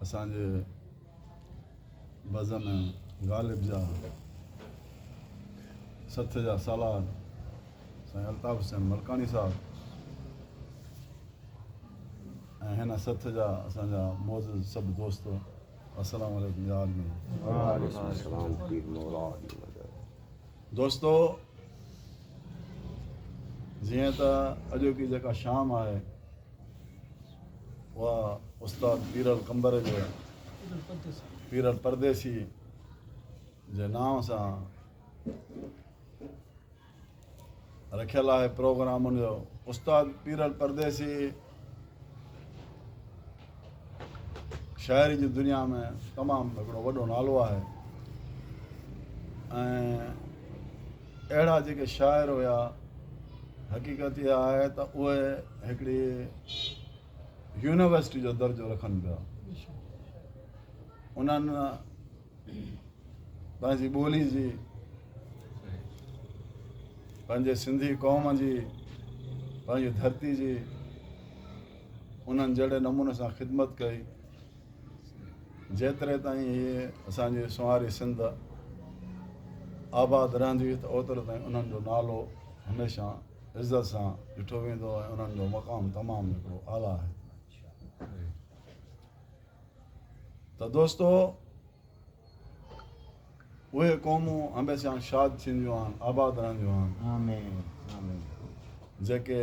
اسان جي بزم غالب جا سٿ جا سالار سائين الطاف حسين ملڪاڻي صاحب ۽ هن سٿ جا اسان جا معزز سڀ دوست السلام عليڪم يا عالمين دوستو جيئن ته اڄوڪي جيڪا شام آهي اها استاد پير القمبر جي پير الپرديسي جي نانء سان رکيل آهي پروگرام ان جو استاد پير الپرديسي شاعري جي دنيا ۾ تمام هڪڙو وڏو نالو آهي ۽ اهڙا جيڪي شاعر هيا حقيقت اها آهي ته اهي هڪڙي يونيورسٽي جو درجو رکن پيا انهن پنهنجي ٻولي جي پنهنجي سنڌي قوم جي پنهنجي ڌرتي جي انهن جهڙي نموني سان خدمت ڪئي جيتري تائين اهي اسان جي سونهاري سنڌ آباد رهندي ته اوترو تائين انهن جو نالو هميشه عزت سان ڏٺو ويندو ۽ انهن جو مقام تمام هڪڙو اعليٰ آهي ته دوستو اهي قومون هميشه شاد ٿينديون آهن آباد رهنديون آهن جيڪي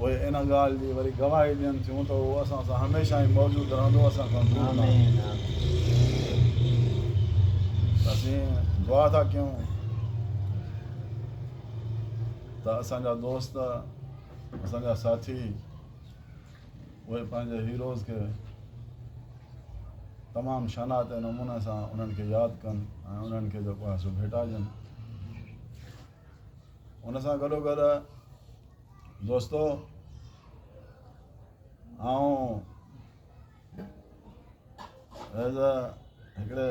اهي ان ڳالهه جي وري گواهي ڏين ٿيون ته اهو اسان سان هميشه ۽ موجود رهندو اسان کان دور نه اسين دعا ٿا ڪيون ته اسان جا دوست اسان جا ساٿي اهي پنهنجي هيروز کي تمام شناعت نموني سان انهن کي ياد ڪن ۽ انهن کي جيڪو آهي سو ڀيٽائجن ان سان گڏوگڏ دوستو آئون ايز اي هڪڙي